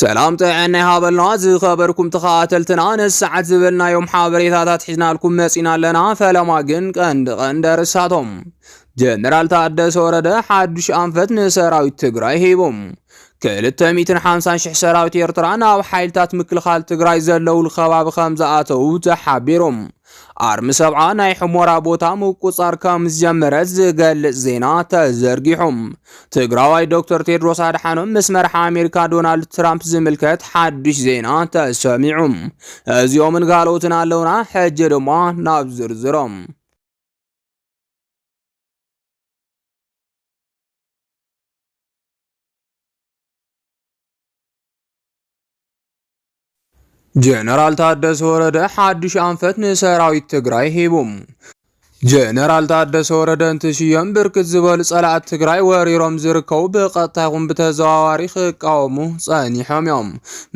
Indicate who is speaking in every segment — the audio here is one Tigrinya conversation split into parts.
Speaker 1: ሰላም ጥዐና ይሃበልና ዝኸበርኩም ተኸታተልትና ነዚ ሰዓት ዝበልናዮም ሓበሬታታት ሒዝናልኩም መጺና ኣለና ፈለማ ግን ቀንዲ ቀንዲ ርሳቶም ጀነራል ታደሰ ወረደ ሓዱሽ ኣንፈት ንሰራዊት ትግራይ ሂቡ ክልተ ሚትን ሓምሳን ሽሕ ሰራዊት ኤርትራ ናብ ሓይልታት ምክልኻል ትግራይ ዘለውሉ ከባቢ ከም ዝኣተዉ ተሓቢሩ ኣርሚ ሰብዓ ናይ ሕሞራ ቦታ ምቁፃር ከም ዝጀመረ ዝገልጽ ዜና ተዘርጊሑ። ትግራዋይ ዶክተር ቴድሮስ ኣድሓኖም ምስ መርሓ ኣሜሪካ ዶናልድ ትራምፕ ዝምልከት ሓድሽ ዜና ተሰሚዑ። እዚኦምን ካልኦትን ኣለውና። ሕጂ ድማ ናብ ዝርዝሮም ጀነራል ታደሰ ወረደ ሓዱሽ ኣንፈት ንሰራዊት ትግራይ ሂቡ። ጀነራል ታደሰ ወረደ እንትሽየም ብርክት ዝበሉ ጸላእት ትግራይ ወሪሮም ዝርከቡ ብቀጥታ ይኹን ብተዘዋዋሪ ክቃወሙ ጸኒሖም እዮም።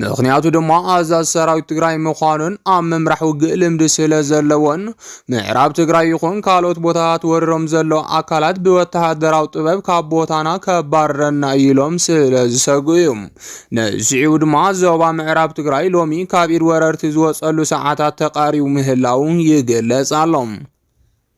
Speaker 1: ምክንያቱ ድማ ኣዛዝ ሰራዊት ትግራይ ምዃኑን ኣብ ምምራሕ ውግእ ልምዲ ስለ ዘለዎን ምዕራብ ትግራይ ይኹን ካልኦት ቦታታት ወሪሮም ዘለዉ ኣካላት ብወተሃደራዊ ጥበብ ካብ ቦታና ከባርረና ኢሎም ስለ ዝሰግኡ እዩ። ንስዒቡ ድማ ዞባ ምዕራብ ትግራይ ሎሚ ካብ ኢድ ወረርቲ ዝወፀሉ ሰዓታት ተቃሪቡ ምህላው ይግለጽ ኣሎ።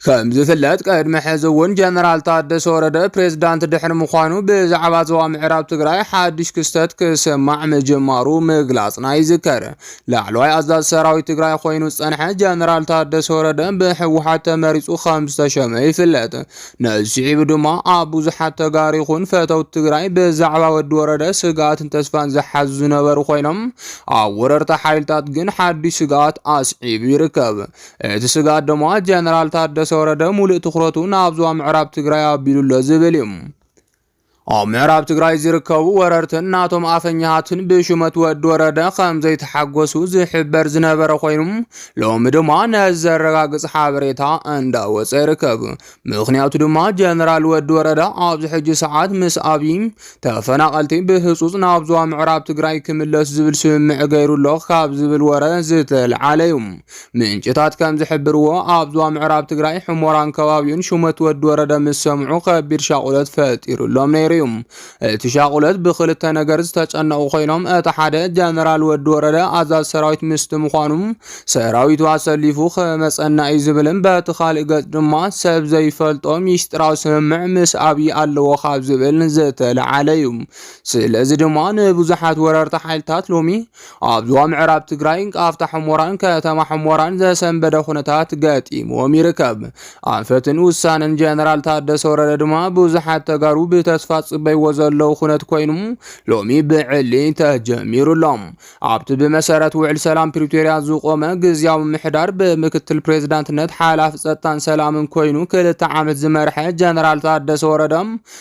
Speaker 1: ከም ዝፍለጥ ቅድሚ ሕዚ እውን ጀነራል ታደሰ ወረደ ፕሬዝዳንት ድሕሪ ምዃኑ ብዛዕባ ዞባ ምዕራብ ትግራይ ሓድሽ ክስተት ክስማዕ ምጅማሩ ምግላፅና ይዝከር። ላዕለዋይ ኣዛዝ ሰራዊት ትግራይ ኮይኑ ዝፀንሐ ጀነራል ታደሰ ወረደ ብሕወሓት ተመሪፁ ከም ዝተሸመ ይፍለጥ። ነዚ ስዒቡ ድማ ኣብ ብዙሓት ተጋሩ ይኹን ፈተውቲ ትግራይ ብዛዕባ ወዲ ወረደ ስግኣትን ተስፋን ዝሓዙ ዝነበሩ ኮይኖም ኣብ ወረርቲ ሓይልታት ግን ሓዱሽ ስግኣት ኣስዒቡ ይርከብ። እቲ ስግኣት ድማ ጀነራል ታደሰ ወረደ ሙሉእ ትኩረቱ ናብ ዞባ ምዕራብ ትግራይ ኣቢሉ ኣሎ ዝብል እዩ። ኣብ ምዕራብ ትግራይ ዝርከቡ ወረርትን ናቶም ኣፈኛሃትን ብሹመት ወዲ ወረደ ከም ዘይተሓጎሱ ዝሕበር ዝነበረ ኮይኑ ሎሚ ድማ ነዚ ዘረጋግፅ ሓበሬታ እንዳወፀ ይርከብ። ምክንያቱ ድማ ጀነራል ወዲ ወረደ ኣብዚ ሕጂ ሰዓት ምስ ኣብይ ተፈናቐልቲ ብህፁፅ ናብ ዞባ ምዕራብ ትግራይ ክምለሱ ዝብል ስምምዕ ገይሩ ኣሎ ካብ ዝብል ወረ ዝተልዓለ እዩ። ምንጭታት ከም ዝሕብርዎ ኣብ ዞባ ምዕራብ ትግራይ ሕሞራን ከባቢኡን ሹመት ወዲ ወረደ ምስ ሰምዑ ከቢድ ሻቑለት ፈጢሩሎም ነይሩ እዩ። እቲ ሻቑለት ብክልተ ነገር ዝተጨነቑ ኮይኖም እቲ ሓደ ጀነራል ወዲ ወረደ ኣዛዝ ሰራዊት ምስቲ ምዃኑ ሰራዊቱ ኣሰሊፉ ክመፀና እዩ ዝብልን በቲ ካሊእ ገፅ ድማ ሰብ ዘይፈልጦ ሚስጢራዊ ስምምዕ ምስ ኣብዪ ኣለዎ ካብ ዝብል ዝተለዓለ እዩ። ስለዚ ድማ ንብዙሓት ወረርቲ ሓይልታት ሎሚ ኣብ ዞባ ምዕራብ ትግራይ ቃፍታ ሕሞራን ከተማ ሕሞራን ዘሰንበደ ኩነታት ገጢምዎም ይርከብ። ኣንፈትን ውሳነን ጀነራል ታደሰ ወረደ ድማ ብዙሓት ተጋሩ ብተስፋ ጽበይዎ ዘለዉ ኩነት ኮይኑ ሎሚ ብዕሊ ተጀሚሩ ኣሎ። ኣብቲ ብመሰረት ውዕል ሰላም ፕሪቶሪያ ዝቆመ ግዝያዊ ምሕዳር ብምክትል ፕሬዝዳንትነት ሓላፊ ጸጥታን ሰላምን ኮይኑ ክልተ ዓመት ዝመርሐ ጀነራል ታደሰ ወረደ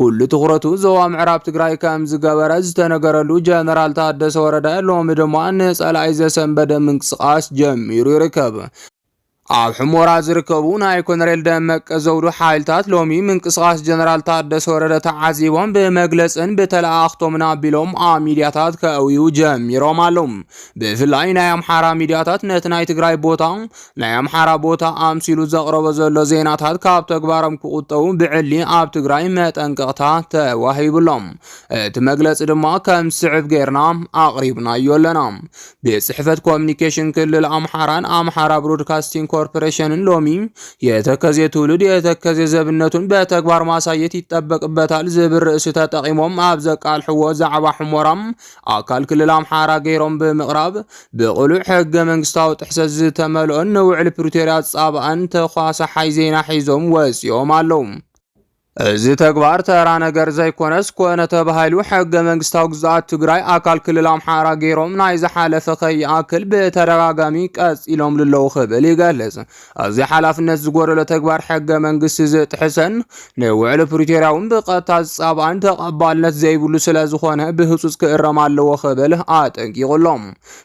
Speaker 1: ኩሉ ትኹረቱ ዞባ ምዕራብ ትግራይ ከም ዝገበረ ዝተነገረሉ ጀነራል ታደሰ ወረደ ሎሚ ድማ ንፀላኢ ዘሰንበደ ምንቅስቓስ ጀሚሩ ይርከብ። ኣብ ሕሞራ ዝርከቡ ናይ ኮነሬል ደመቀ ዘውዱ ሓይልታት ሎሚ ምንቅስቓስ ጀነራል ታደሰ ወረደ ተዓዚቦም ብመግለፅን ብተለኣኣኽቶምን ኣቢሎም ኣብ ሚዲያታት ከእውዩ ጀሚሮም ኣለዉ። ብፍላይ ናይ ኣምሓራ ሚዲያታት ነቲ ናይ ትግራይ ቦታ ናይ ኣምሓራ ቦታ ኣምሲሉ ዘቕረቦ ዘሎ ዜናታት ካብ ተግባሮም ክቑጠቡ ብዕሊ ኣብ ትግራይ መጠንቀቕታ ተዋሂብሎም። እቲ መግለፂ ድማ ከም ዝስዕብ ጌርና ኣቕሪብናዮ ኣለና። ቤት ጽሕፈት ኮሚኒኬሽን ክልል ኣምሓራን ኣምሓራ ብሮድካስቲንግ ኮርፖሬሽንን ሎሚ የተከዜ ትውልድ የተከዜ ዘብነቱን በተግባር ማሳየት ይጠበቅበታል ዝብል ርእሲ ተጠቂሞም ኣብ ዘቃልሕዎ ዛዕባ ሕሞራ ኣካል ክልል ኣምሓራ ገይሮም ብምቕራብ ብቕሉዕ ሕገ መንግስታዊ ጥሕሰት ዝተመልኦን ንውዕሊ ፕሪቶርያ ዝጻባእን ተኳሳሓይ ዜና ሒዞም ወጺኦም ኣለዉ። እዚ ተግባር ተራ ነገር ዘይኮነስ ኮነ ተባሂሉ ሕገ መንግስታዊ ግዝኣት ትግራይ ኣካል ክልል ኣምሓራ ገይሮም ናይ ዝሓለፈ ከይኣክል ብተደጋጋሚ ቀጺሎምሉ ኣለዉ ክብል ይገልጽ። ኣዚ ሓላፍነት ዝጎደሎ ተግባር ሕገ መንግስቲ ዝጥሕሰን ንውዕሊ ፕሪቶርያውን ብቀጥታ ዝጻብኣን ተቐባልነት ዘይብሉ ስለ ዝኾነ ብህጹጽ ክእረም ኣለዎ ክብል ኣጠንቂቑ ኣሎ።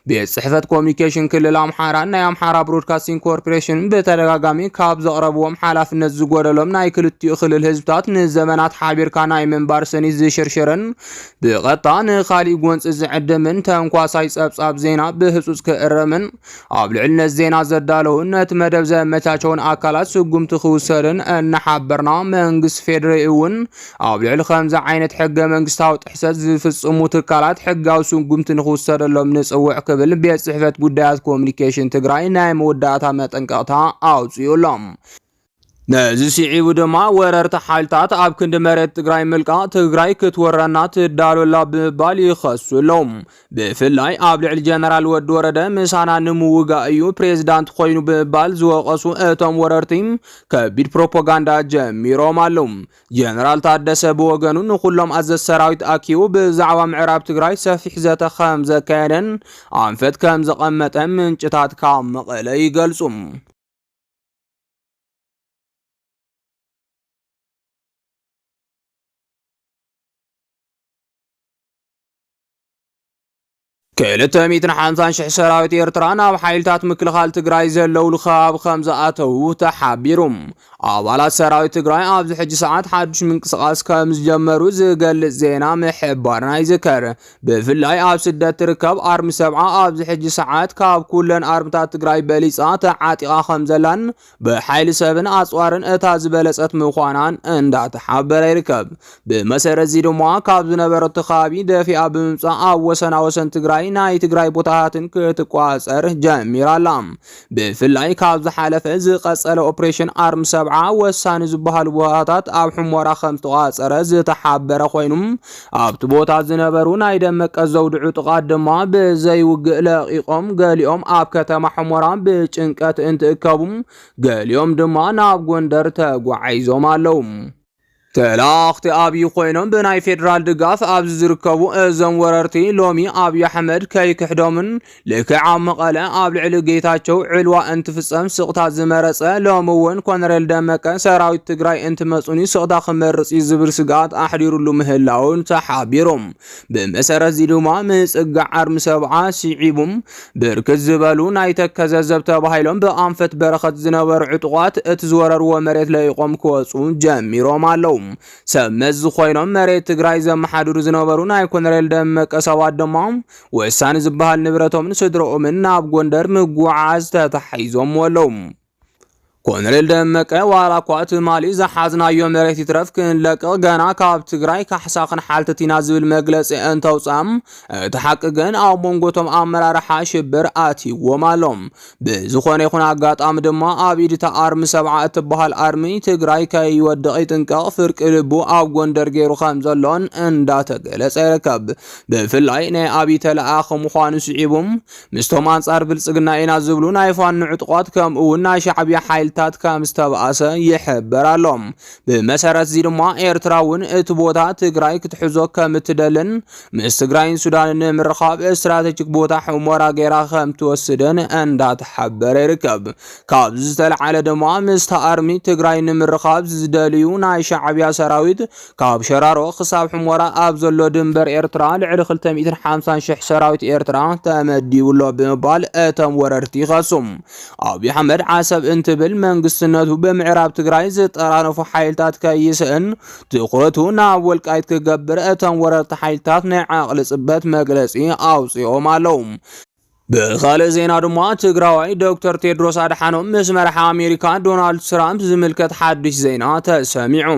Speaker 1: ቤት ጽሕፈት ኮሚኒኬሽን ክልል ኣምሓራን ናይ ኣምሓራ ብሮድካስቲንግ ኮርፖሬሽን ብተደጋጋሚ ካብ ዘቕረብዎም ሓላፍነት ዝጎደሎም ናይ ክልቲኡ ክልል ህዝብታት ንዘመናት ሓቢርካ ናይ ምንባር ስኒት ዝሽርሽርን ብቐጥታ ንኻሊእ ጎንጺ ዝዕድምን ተንኳሳይ ጸብጻብ ዜና ብህጹጽ ክእረምን ኣብ ልዕሊ ነዚ ዜና ዘዳለውን ነቲ መደብ ዘመቻቸውን ኣካላት ስጉምቲ ክውሰድን እናሓበርና መንግስቲ ፌዴሬ እውን ኣብ ልዕሊ ከምዚ ዓይነት ሕገ መንግስታዊ ጥሕሰት ዝፍጽሙ ትካላት ሕጋዊ ስጉምቲ ንክውሰደሎም ንጽውዕ ክብል ቤት ጽሕፈት ጉዳያት ኮሚኒኬሽን ትግራይ ናይ መወዳእታ መጠንቀቕታ ኣውፅኡሎም። ነዚ ስዒቡ ድማ ወረርቲ ሓይልታት ኣብ ክንዲ መሬት ትግራይ ምልቃ ትግራይ ክትወረና ትዳሎላ ብምባል ይኸሱ ኣለዉ። ብፍላይ ኣብ ልዕሊ ጀነራል ወዲ ወረደ ምሳና ንምውጋእ እዩ ፕሬዚዳንት ኮይኑ ብምባል ዝወቀሱ እቶም ወረርቲ ከቢድ ፕሮፓጋንዳ ጀሚሮም ኣለዉ። ጀነራል ታደሰ ብወገኑ ንኩሎም ኣዘዝ ሰራዊት ኣኪቡ ብዛዕባ ምዕራብ ትግራይ ሰፊሕ ዘተ ከም ዘካየደን ኣንፈት ከም ዘቐመጠ ምንጭታት ካብ መቐለ ይገልጹ። ክልተ ሚእትን ሓምሳን ሽሕ ሰራዊት ኤርትራ ናብ ሓይልታት ምክልኻል ትግራይ ዘለውሉ ከባቢ ከም ዝኣተዉ ተሓቢሩ ኣባላት ሰራዊት ትግራይ ኣብዚ ሕጂ ሰዓት ሓዱሽ ምንቅስቓስ ከም ዝጀመሩ ዝገልጽ ዜና ምሕባርና ይዝከር ብፍላይ ኣብ ስደት ትርከብ ኣርሚ ሰብዓ ኣብዚ ሕጂ ሰዓት ካብ ኩለን ኣርምታት ትግራይ በሊፃ ተዓጢቓ ከም ዘላን ብሓይሊ ሰብን ኣፅዋርን እታ ዝበለፀት ምዃናን እንዳተሓበረ ይርከብ። ብመሰረት እዚ ድማ ካብ ዝነበረቶ ከባቢ ደፊኣ ብምምፃእ ኣብ ወሰና ወሰን ትግራይ ናይ ትግራይ ቦታታትን ክትቋፀር ጀሚራ ኣላ። ብፍላይ ካብ ዝሓለፈ ዝቐጸለ ኦፕሬሽን ኣርሚ ሰብዓ ወሳኒ ዝበሃሉ ቦታታት ኣብ ሕሞራ ከም ዝተቋጸረ ዝተሓበረ ኮይኑ ኣብቲ ቦታ ዝነበሩ ናይ ደመቀ ዘውዲ ዕጡቓት ድማ ብዘይውግእ ለቂቖም ገሊኦም ኣብ ከተማ ሕሞራ ብጭንቀት እንትእከቡ ገሊኦም ድማ ናብ ጎንደር ተጓዒዞም ኣለዉ። ተላኣኽቲ ኣብይ ኮይኖም ብናይ ፌደራል ድጋፍ ኣብዚ ዝርከቡ እዞም ወረርቲ ሎሚ ኣብይ ኣሕመድ ከይክሕዶምን ልክዕ ኣብ መቐለ ኣብ ልዕሊ ጌታቸው ዕልዋ እንትፍፀም ስቕታ ዝመረፀ ሎሚ እውን ኮነሬል ደመቀ ሰራዊት ትግራይ እንትመፁኒ ስቕታ ክመርፅ እዩ ዝብል ስግኣት ኣሕዲሩሉ ምህላውን ተሓቢሮም ብመሰረትዚ ድማ ምጽጋዕ ዓርሚ ሰብዓ ስዒቡ ብርክት ዝበሉ ናይ ተከዘ ዘብ ተባሂሎም ብኣንፈት በረኸት ዝነበሩ ዕጡቓት እቲ ዝወረርዎ መሬት ለኢቖም ክወፁ ጀሚሮም ኣለዉ። ሰብ መዚ ኮይኖም መሬት ትግራይ ዘመሓድሩ ዝነበሩ ናይ ኮነሬል ደመቀ ሰባት ድማ ወሳኒ ዝበሃል ንብረቶምን ስድረኦምን ናብ ጎንደር ምጉዕዓዝ ተታሒዞምዎ ኣለዉ። ኮሎኔል ደመቀ ዋላ እኳ ትማሊ ዝሓዝናዮ መሬት ይትረፍ ክንለቅቕ ገና ካብ ትግራይ ካሕሳ ክንሓትት ኢና ዝብል መግለፂ እንተውፅኣ እቲ ሓቂ ግን ኣብ መንጎቶም ኣመራርሓ ሽብር ኣትይዎም ኣሎ። ብዝኾነ ይኹን ኣጋጣሚ ድማ ኣብ ኢድታ ኣርሚ ሰብዓ እትበሃል ኣርሚ ትግራይ ከይወድቕ ይጥንቀቕ ፍርቂ ልቡ ኣብ ጎንደር ገይሩ ከም ዘሎን እንዳተገለጸ ይርከብ። ብፍላይ ናይ ኣብይ ተለኣኸ ምዃኑ ስዒቡም ምስቶም ኣንጻር ብልጽግና ኢና ዝብሉ ናይ ፋኖ ዕጡቓት ከምኡ'ውን ናይ ሻዕብያ ሓይልታት ከም ዝተባእሰ ይሕበር ኣሎ። ብመሰረት'ዚ ድማ ኤርትራ እውን እቲ ቦታ ትግራይ ክትሕዞ ከም እትደልን ምስ ትግራይን ሱዳንን ንምርኻብ ስትራተጂክ ቦታ ሑሞራ ገይራ ከም ትወስድን እንዳተሓበረ ይርከብ። ካብዚ ዝተልዓለ ድማ ምስታ ኣርሚ ትግራይ ንምርኻብ ዝደልዩ ናይ ሻዕብያ ሰራዊት ካብ ሸራሮ ክሳብ ሕሞራ ኣብ ዘሎ ድንበር ኤርትራ ልዕሊ 250 ሽሕ ሰራዊት ኤርትራ ተመዲቡሎ ብምባል እቶም ወረርቲ ይኸሱ። ኣብይ ኣሕመድ ዓሰብ እንትብል መንግስትነቱ ብምዕራብ ትግራይ ዝጠራነፉ ሓይልታት ከይስእን ትኹረቱ ናብ ወልቃይት ክገብር እቶም ወረርቲ ሓይልታት ናይ ዓቕሊ ጽበት መግለጺ ኣውጺኦም ኣለዉ። ብኻልእ ዜና ድማ ትግራዋይ ዶክተር ቴድሮስ ኣድሓኖም ምስ መራሒ ኣሜሪካ ዶናልድ ትራምፕ ዝምልከት ሓድሽ ዜና ተሰሚዑ።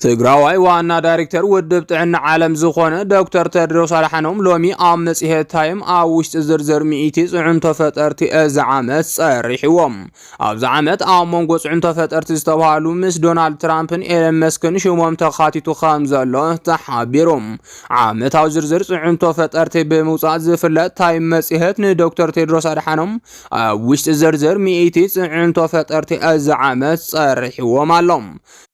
Speaker 1: ትግራዋይ ዋና ዳይሬክተር ውድብ ጥዕና ዓለም ዝኾነ ዶክተር ቴድሮስ ኣድሓኖም ሎሚ ኣብ መጽሔት ታይም ኣብ ውሽጢ ዝርዝር ሚእቲ ጽዕንቶ ፈጠርቲ እዚ ዓመት ጸሪሕዎም። ኣብዚ ዓመት ኣብ መንጎ ፅዕንቶ ፈጠርቲ ዝተባሃሉ ምስ ዶናልድ ትራምፕን ኤለን መስክን ሽሞም ተኻቲቱ ከም ዘሎ ተሓቢሩ። ዓመታዊ ዝርዝር ፅዕንቶ ፈጠርቲ ብምውፃእ ዝፍለጥ ታይም መፅሄት ንዶክተር ቴድሮስ ኣድሓኖም ኣብ ውሽጢ ዝርዝር ሚእቲ ፅዕንቶ ፈጠርቲ እዚ ዓመት ፀሪሕዎም ኣሎ።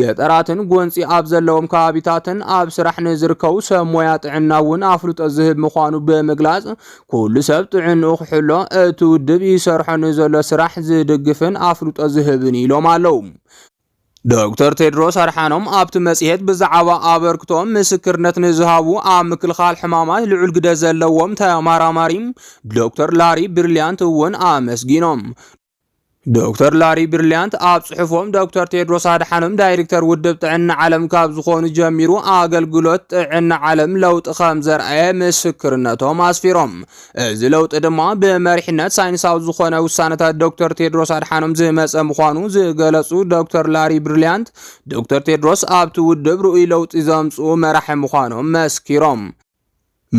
Speaker 1: ገጠራትን ጎንፂ ኣብ ዘለዎም ከባቢታትን ኣብ ስራሕ ንዝርከቡ ሰብ ሞያ ጥዕና እውን ኣፍልጦ ዝህብ ምዃኑ ብምግላፅ ኩሉ ሰብ ጥዕንኡ ክሕሎ እቲ ውድብ ይሰርሖ ንዘሎ ስራሕ ዝድግፍን ኣፍልጦ ዝህብን ኢሎም ኣለው። ዶክተር ቴድሮስ ኣድሓኖም ኣብቲ መፅሄት ብዛዕባ ኣበርክቶም ምስክርነት ንዝሃቡ ኣብ ምክልኻል ሕማማት ልዑል ግደ ዘለዎም ተመራማሪ ዶክተር ላሪ ብሪሊያንት እውን ኣመስጊኖም። ዶክተር ላሪ ብርልያንት ኣብ ጽሑፎም ዶክተር ቴድሮስ ኣድሓኖም ዳይሬክተር ውድብ ጥዕና ዓለም ካብ ዝኾኑ ጀሚሩ ኣገልግሎት ጥዕና ዓለም ለውጢ ከም ዘርኣየ ምስክርነቶም ኣስፊሮም። እዚ ለውጢ ድማ ብመሪሕነት ሳይንሳዊ ዝኾነ ውሳነታት ዶክተር ቴድሮስ ኣድሓኖም ዝመጸ ምዃኑ ዝገለጹ ዶክተር ላሪ ብርልያንት ዶክተር ቴድሮስ ኣብቲ ውድብ ርኡይ ለውጢ ዘምጽኡ መራሒ ምዃኖም መስኪሮም።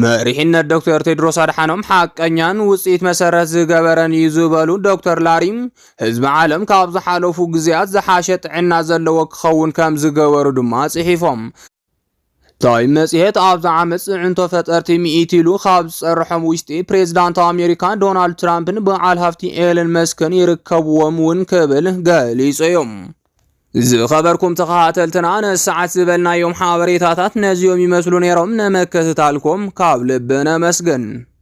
Speaker 1: መሪሕነት ዶክተር ቴድሮስ ኣድሓኖም ሓቀኛን ውፅኢት መሰረት ዝገበረን እዩ ዝበሉ ዶክተር ላሪ ህዝቢ ዓለም ካብ ዝሓለፉ ግዜያት ዝሓሸ ጥዕና ዘለዎ ክኸውን ከም ዝገበሩ ድማ ጽሒፎም። ታይም መጽሔት ኣብዚ ዓመት ጽዕንቶ ፈጠርቲ ሚኢት ኢሉ ካብ ዝጸርሖም ውሽጢ ፕሬዚዳንት ኣሜሪካ ዶናልድ ትራምፕን በዓል ሃፍቲ ኤለን መስክን ይርከብዎም እውን ክብል ገሊጹ እዩ። ዝኸበርኩም ተኸታተልትና ነዚ ሰዓት ዝበልናዮም ሓበሬታታት ነዚኦም ይመስሉ ነይሮም። ነመከትታልኩም ካብ ልቢ ነመስግን።